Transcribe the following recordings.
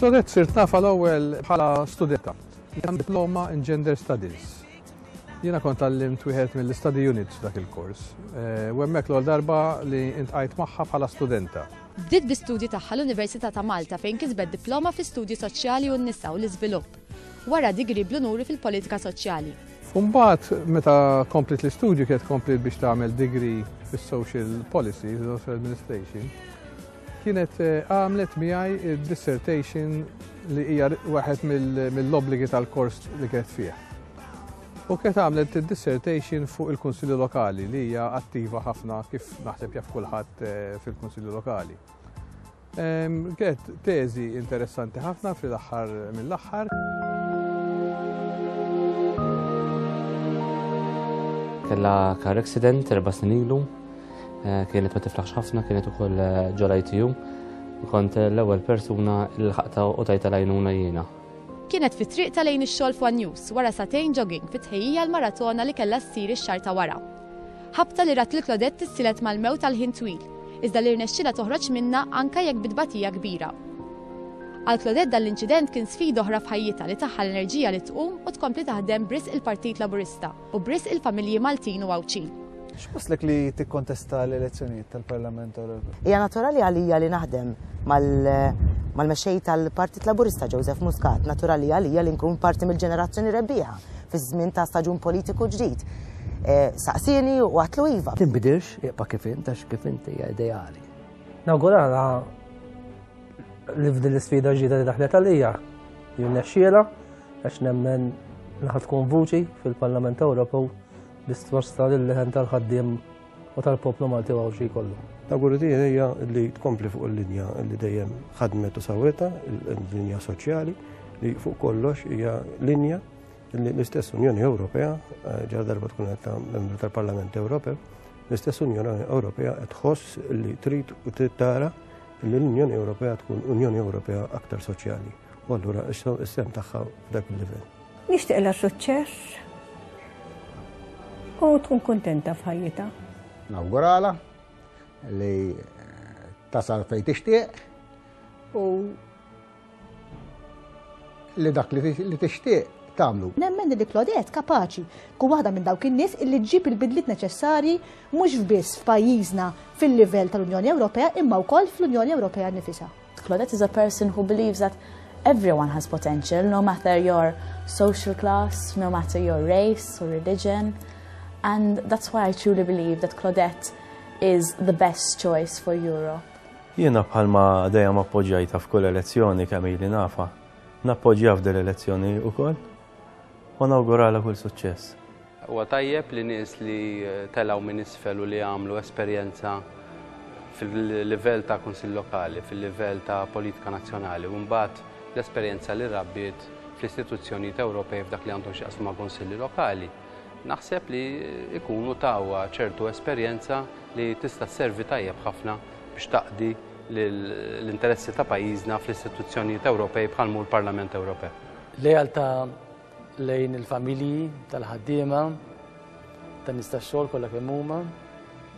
Tourette sirt nafha l-ewwel bħala studenta li għandha diploma in Gender Studies. Jiena kont għallimt wieħed mill-study units dak il-kors. Eh, u hemmhekk l darba li intqajt magħha bħala studenta. Bdiet bi studji tagħha l-Università ta' Malta fejn kisbet diploma fi studji soċjali u n-nisa u l-iżvilupp. Wara digri bl-unuri fil-politika soċjali. Umbat, meta komplet l-istudju kiet komplet biex tagħmel digri fis-social policy, social administration, Kienet għamlet miegħi id-dissertation li hija waħed mill-obbligi tal-kors li kienet fih. U kienet għamlet id-dissertation fuq il-Kunsilli Lokali li hija attiva ħafna kif naħseb jaf kulħadd eh, fil-Kunsilli Lokali. Kienet teżi interessanti ħafna fil-aħħar mill-aħħar. Kella car accident erba' snin ilu Eh, kienet ma tiflaħx ħafna, kienet ukoll eh, ġol ITU. Kont eh, l-ewwel persuna l ħaqta u tajta lajnuna jiena. Kienet fi triq ta' lejn ix-xogħol f'Wan News wara satejn jogging fit tħejjija l-maratona li kellha ssir ix-xar ta' wara. Ħabta li rat li Claudette tissilet mal-mew tal-ħin twil, iżda li rnexxila toħroġ minna anka jekk bidbatija kbira. Għal Claudette dan l-inċident kien sfida oħra f'ħajjita li taħħal enerġija li tqum u tkompli taħdem bris il-Partit Laburista. u b'risq il-familji Maltin u Għawdxin. X'wasslek li tikkontesta l-elezzjonijiet tal-Parlament Ewropew? Hija naturali għalija li naħdem mal-mexxej tal-Partit Laburista Joseph Muscat, naturali għalija li nkun parti mill-ġenerazzjoni rebbieħa fiż-żmien ta' staġun politiku ġdid. Eh, saqsini u għatlu iva. Tinbidilx, iqpa kif intax kif inti ideali. Nawgurala Li f'din l-isfida ġdida li daħlet għalija, jirnexxiela għax nemmen naħat tkun vuċi fil-Parlament Ewropew biex twasta l-leħen tal-ħaddiem u tal-poplu Malti għaw xie kollu. L-għaguri tijen hija li tkompli fuq il-linja li dejjem ħadmet u saweta, il-linja soċjali, li fuq kollox hija linja li l-istess Unjoni Ewropea, eh, ġara darba tkun qed membru tal-Parlament Ewropew, l-istess Unjoni Ewropea qed tħoss li trid u trid tara Li l-Unjoni Ewropea tkun Unjoni Ewropea aktar soċjali. U allura is-sem tagħha f'dak il-livell. Nixtieqla suċċess u tkun kuntenta f'ħajjita. Nawgurala li tasal fejn tixtieq u li dak li tixtieq tagħmlu. Nemmen li Claudette kapaċi tkun waħda minn dawk in-nies illi ġġib il-bidliet neċessarji mhux biss f'pajjiżna fil-livell tal-Unjoni Ewropea imma wkoll fl-Unjoni Ewropea nnifisha. Claudette is a person who believes that everyone has potential, no matter your social class, no matter your race or religion. And that's why I truly believe that Claudette is the best choice for Europe. Jiena bħal ma dejjem appoġġajtha f'kull elezzjoni kemm ili nafha, nappoġġjha f'din l-elezzjoni ukoll u nawguralha kull suċċess. Huwa tajjeb li nies li telgħu minn isfel u li għamlu esperjenza fil-livell ta' Kunsill Lokali, fil-livell ta' politika nazzjonali u mbagħad l-esperjenza li rabbiet fl-istituzzjonijiet Ewropej f'dak li għandhom x'jaqsmu ma' Kunsilli Lokali, Naħseb li ikunu tawwa ċertu esperjenza li tista' sservi tajjeb ħafna biex taqdi l-interessi ta' pajjiżna fl-istituzzjonijiet Ewropej bħal mur Parlament Ewropew. Lealta lejn il-familji tal-ħaddiema ta' nista xogħol kollha kemm huma,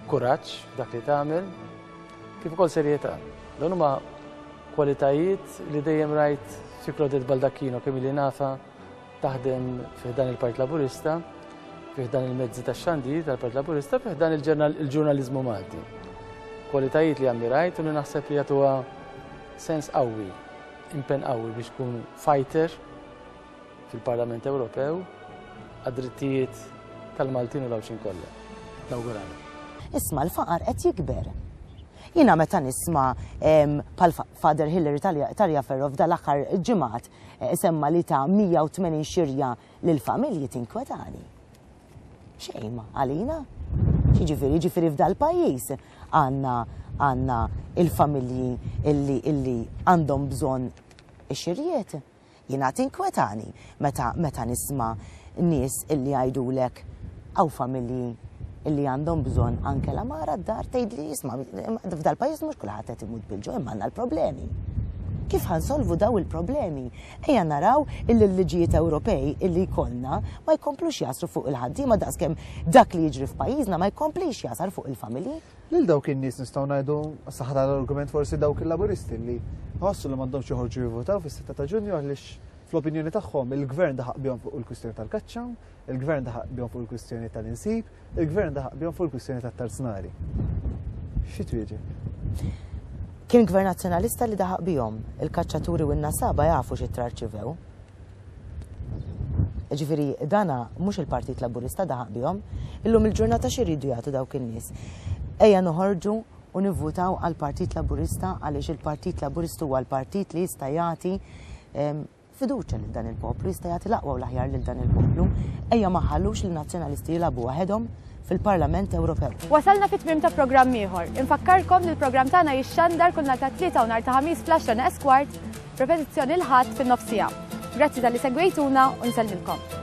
kuraġġ dak li tagħmel, kif ukoll serjetà. Dan huma kwalitajiet li dejjem rajt fi Claudette Baldacchino kemm li nafa Taħdem fi ħdan il-Partit Laburista, fi ħdan il-mezzi tax-xandir tal-Partit Laburista, fi ħdan il-ġurnaliżmu Malti. Kwalitajiet li ammirajt u li naħseb li jagħtuha sens qawwi, impenn qawwi biex tkun fighter fil-Parlament Ewropew għad-drittijiet tal-Maltin u l-Għawxin kollha. Nawgurana. Isma l-faqar qed jikber. Jina meta nisma pal Father Hillary Tarja Ferro f'dal aħħar ġimgħat Semma li ta 180 xirja lil familji tinkwetani. Xejn ma għalina. Jiġifieri, jiġifieri f'dal-pajjiż għandna għandna il-familji illi illi għandhom bżonn ix-xirjiet. Jiena tinkwetani meta meta nisma' nies illi jgħidulek hawn familji illi għandhom bżonn anke l-amara d-dar tgħidli jisma' f'dal-pajjiż mhux kulħadd qed imut bil-ġo imma għandna l-problemi. Kif ħansolvu daw il-problemi? Ejja naraw illi l-liġijiet Ewropej illi jkollna ma jkomplux jasru fuq il-ħaddiema daqskemm dak li jiġri f'pajjiżna ma jkomplix jasar fuq il-familji. Lil dawk in-nies nistgħu ngħidu saħħa tal-argument forsi dawk il-Laburisti li ħossu li m'għandhomx joħorġu jivvutaw fis-6 ta' Ġunju għaliex Fl-opinjoni tagħhom, il-Gvern daħaq bihom fuq il-kwistjoni tal-kaċċa, il-Gvern daħaq bihom fuq il-kwistjoni tal-insib, il-Gvern daħaq bihom fuq il-kwistjoni tat-tarznari. Xi twieġeb? Kien gvern nazzjonalista li daħaq bihom. Il-kaċċaturi u n-nasaba jafu xi trarċivew. Ġifiri, dana mhux il-Partit Laburista daħaq bihom, illum il-ġurnata xi jridu jagħtu dawk in-nies. Ejja noħorġu u nivvutaw għall-Partit Laburista għaliex il-Partit Laburista huwa l-partit li jista' jagħti fiduċja lil dan il-poplu, jista' jagħti l-aqwa u l-aħjar lil dan il-poplu. Ejja ma ħallux lin nazzjonalisti jilagħbu waħedhom fil-Parlament Ewropew. Wasalna fit tmiem ta' programm ieħor. Infakkarkom li l-programm tagħna jixxandar kull nhar ta' tlieta u nhar ta' ħamis fl-10 naqas kwart, repetizzjoni l-ħadd fin-nofsija. Grazzi tal-li segwejtuna u nsellmilkom.